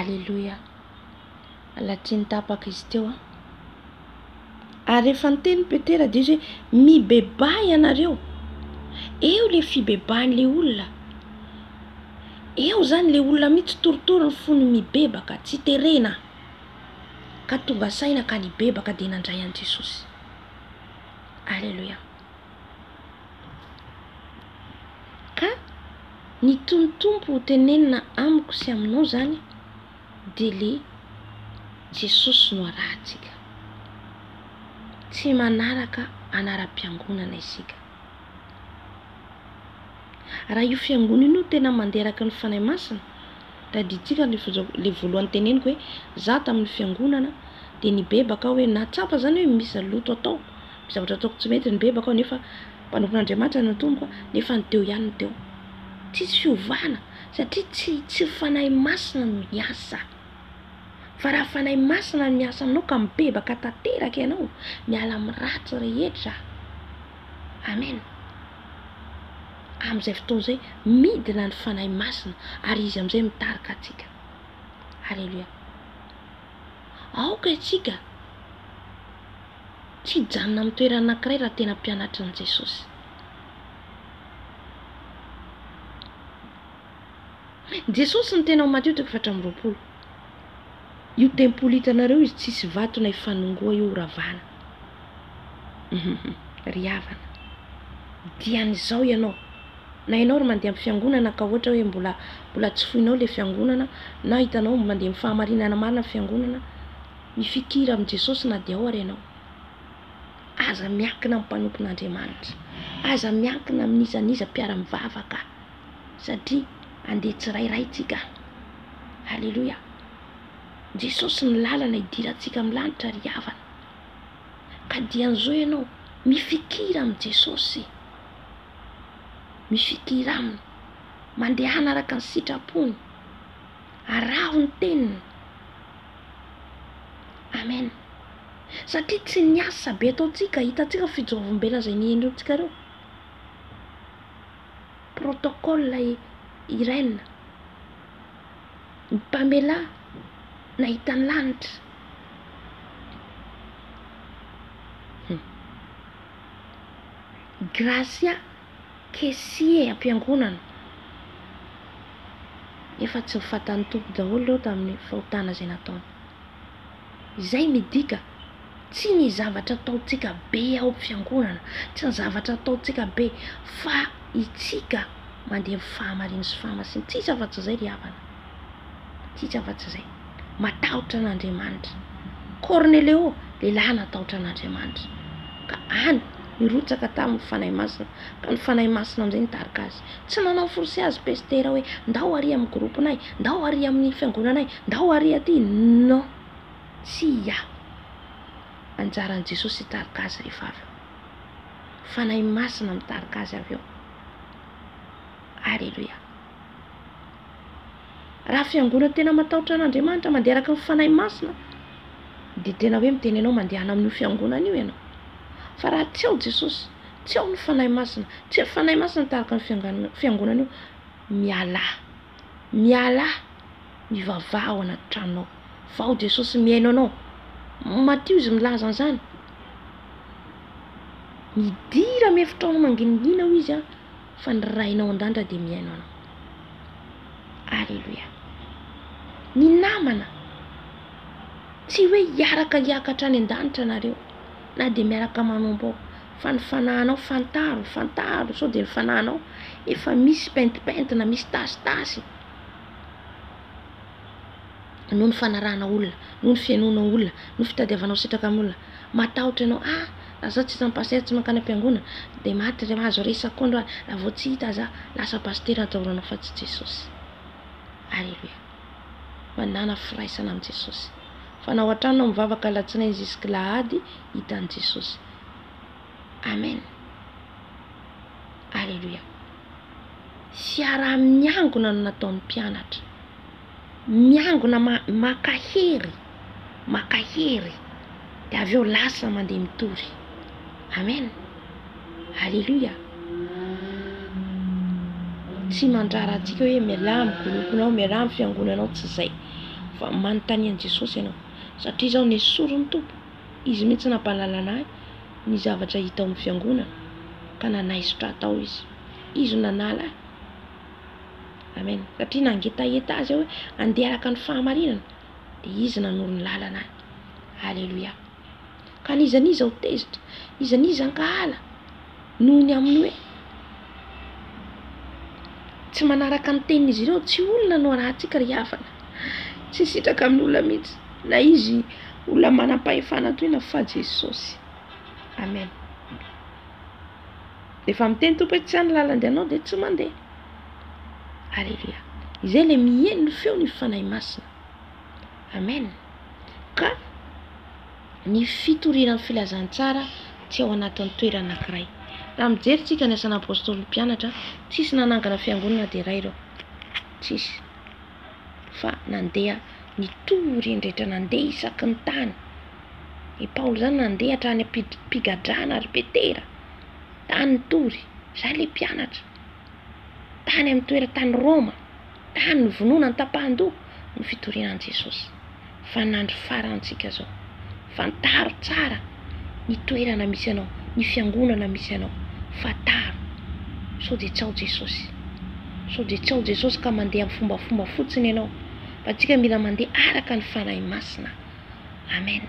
Aleloia! Mbola tsy nitapaka izy teo an. Ary efa niteny Petera dia izy hoe mibebaha ianareo. Eo ilay fibebahan'ilay olona. Eo izany ilay olona mihitsy torotoro ny fony mibebaka, tsy terena. Ka tonga saina ka nibebaka dia nandray an'i Jesosy. Aleloia! Ka ny tony Tompo ho tenenina amiko sy aminao zany de le Jesosy no arahantsika. Tsy manaraka anaram-piangonana isika. Raha io fiangonana io no tena manderaky ny Fanahy Masina, tadidintsika le le voalohany teneniko hoe za tamin'ny fiangonana de nibebaka aho hoe nahatsapa zany hoe misy loto atao, zavatra ataoko tsy mety ny bebako aho nefa mpanompon'Andriamanitra no tompoko nefa ny teo ihany no teo. Tsisy fiovana satria tsy tsy Fanahy Masina no niasa. Fa raha Fanahy Masina no niasa aminao ka mibebaka tanteraka ianao, miala amin'ny ratsy rehetra. Amen. Amin'izay fotoana izay midina ny Fanahy Masina ary izy amin'izay mitarika antsika. Alléluia. Aoka isika Tsy hijanona amin'ny toerana anankiray raha tena mpianatry an'i Jesosy. Jesosy ny tena ao Matio toko efatra amby roapolo. Io tempoly hitanareo izy tsisy vato na ifanongoa io horavana. Ry havana, dian'izao ianao. Na ianao ry mandeha amin'ny fiangonana ka ohatra hoe mbola mbola tsy foinao ilay fiangonana na hitanao mandeha amin'ny fahamarinana marina ny fiangonana, Mifikira amin'i Jesosy na dia ao ary ianao. Aza miankina amin'ny mpanompon'Andriamanitra. Aza miankina amin'iza n'iza mpiara-mivavaka satria handeha tsirairay tsika. Aleloia. Jesosy ny lalana hidirantsika amin'ny lanitra ry havana. Ka dia an'izao ianao, mifikira amin'i Jesosy. Mifikira aminy. Mandehana araka ny sitrapony. Araho ny teniny. Amen satria tsy ny asa be ataontsika hitantsika ny fijoroam-bela izay nihainoantsika ireo protocole Irène ny Pamela nahita ny lanitra Gracia Kessie ampiangonana nefa tsy nyfatan'ny Tompo daholo ireo tamin'ny fahotana izay nataony. Izay midika tsy ny zavatra ataontsika be ao amin'ny fiangonana, tsy ny zavatra ataontsika be fa itsika mandeha amin'ny fahamariana sy fahamasin-tsisa afa-tsy izay ry havana. Tsisy afa-tsy izay. Matahotra an'Andriamanitra. Kornelio, lehilahy natahotra an'Andriamanitra. Ka any, nirotsaka taminy ny Fanahy Masina, ka ny Fanahy Masina amin'izay nitarika azy. Tsy nanao force azy Pestera hoe, ndao ary amin'ny groupe-nay, ndao ary amin'ny fiangonanay, ndao ary aty. Non! Tsia! Anjaran'i Jesosy hitarika azy rehefa avy eo. Fanahy Masina mitarika azy avy eo. Alléluia! Raha fiangonana tena matahotra an'Andriamanitra, mandeha araka ny Fanahy Masina, dia tena hoe miteny anao mandehana amin'io fiangonana io ianao. Fa raha tsy ao Jesosy, tsy ao ny Fanahy Masina, tsy ny Fanahy Masina tahaka ny fiangana- fiangonana io, mialà. Mialà, mivavaha ao anaty tranonao. Fa ao Jesosy mihaino anao. Matio izy milaza an'izany. Midira amin'ny efitrano mangingina ao izy an. Fa ny Rainao an-danitra dia mihaino anao. Aleloia. Ny namana, tsy hoe hiaraka hiakatra any an-danitra nareo, na dia miaraka manompo ao, fa ny fanahinao fantaro, fantaro sao dia ny fanahinao efa misy pentipentina, misy tasitasy. noho ny fanarahana olona, noho ny fihainoana olona, noho ny fitadiavanao sitraka amin'ny olona. Matahotra ianao, ah! Raha izaho tsy isan'ny pasitera tsy mankany am-piangonana, dia maty ry azo re isan-kondro ary raha vao tsy hita izaho, lasa pasitera atahoranao fa tsy Jesosy. Aleloia! Mandàna firaisana amin'i Jesosy. Fa na ao an-trano na mivavaka alatsinainy zisk'alahady, hita an'i Jesosy. Amen Aleloia Fiaraha-miangona no nataon'ny mpianatra Miangona ma maka hery Maka hery De avy eo lasa mandeha mitory Amen Aleloia Tsy mandrara antsika hoe mialà amin'ny groupe-nao Mialà amin'ny fiangonanao Tsy zay Fa manontania an'i Jesosy ianao Satria zao nesorin'ny Tompo Izy mihitsy nampahalalana ahy ny zavatra hita ao amin'ny fiangonana ka nanaisotra ahy tao izy. Izy no nanala ahy. Amen. Satria nangetaheta azy aho hoe handeha araka ny fahamarinana, dia izy nanoro ny lalana ahy. Aleloia. Ka n'iza n'iza ho tezitra, iza n'iza hankahala. noho ny amin'ny hoe tsy manaraka ny tenin'izy ireo. Tsy olona no arahantsika ry havana. Tsy hisitraka amin'ny olona mihitsy na izy olona manam-pahefana toy inona fa Jesosy. Amen. Efa miteny Tompo hoe tsy any lalany anao dia tsy mandeha. Alléluia. Izay ilay miheno ny feo ny fanahy masina. Amen. Ka Ny fitoriana ny filazantsara tsy ao anatin'ny toerana anankiray. Raha mijery tsika ny asan'ny Apostoly ny mpianatra, tsisy nanangana fiangonana na dia iray ireo. Tsisy. Fa nandeha nitory eny rehetra nandeha isaky ny tany. I Paoly izany nandeha hatrany am-pigadrana ry Petera. Tany nitory. Izay ilay mpianatra. Tany amin'ny toeran-tany Roma. Tany nivononany tapahan-doha ny fitoriana an'i Jesosy. Fa nandro farantsika zao. Fantaro tsara ny toerana misy anao, ny fiangonana misy anao. Fantaro. Sao dia tsy ao Jesosy. Sao dia tsy ao Jesosy ka mandeha amin'ny fombafomba fotsiny ianao. Fa antsika mila mandeha araka ny Fanahy Masina. Amen.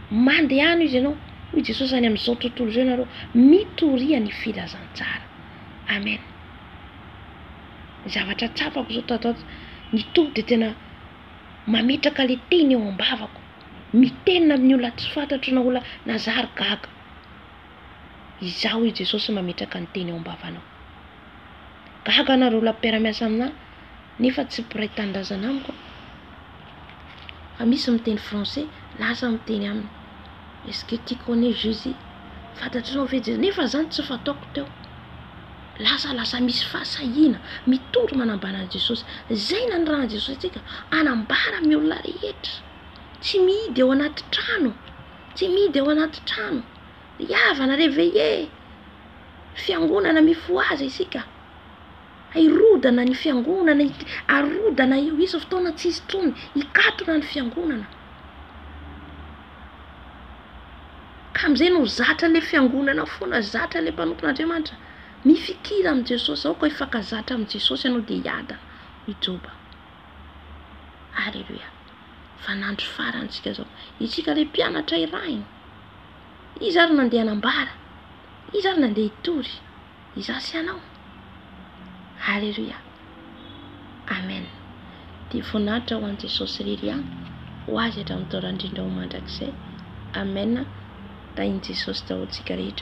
Mandehano izy ianao. Hoy Jesosy any amin'izao tontolo izao ianareo mitoria ny filazantsara. Amen. ny zavatra tsapako zao tato ato, ny Tompo dia tena mametraka le teny eo am-bavako, mitenina amin'ny olona tsy fantatro na olona na za ary gaga, izaho i Jesosy mametraka ny teny eo am-bavanao, gaga nareo olona mpiara-miasa aminah nefa tsy mpiray tanindrazana amiko a, fa misy miteny français lasa miteny aminy, est-ce que tu connais Jesus, fantatrinao ve Jesosy, nefa zany tsy fataoko teo. Lazalasa misy fahasahiana, mitory manambara an'i Jesosy. Izay nanirahan'i Jesosy antsika, hanambara amin'ny olona rehetra. Tsy mihidy ao anaty trano, tsy mihidy ao anaty trano. Ry havana, réveillez! Fiangonana mifohaza isika. Hirodana ny fiangonana, hik- harodana io, hisy fotoana tsy hisy intsony, hikatona ny fiangonana. Ka amin'izay no zatra ilay fiangonana foana, zatra ilay mpanompon'Andriamanitra. Mifikira amin'i Jesosy, aoka hifankazatra amin'i Jesosy ianao dia hiadana, hoy Joba. Aleloia! Fa n'andro farany isika izao. Isika ilay mpianatra irahiny. Izy ary nandeha hanambara. Izy ary nandeha hitory. Izaho sy ianao. Haleloia. Amen. Dia voninahitra ho an'i Jesosy irery ihany, ho Azy hatramin'ny taolan-drindra ho mandrakizay. Amen. Tahin'i Jesosy daholo tsika rehetra.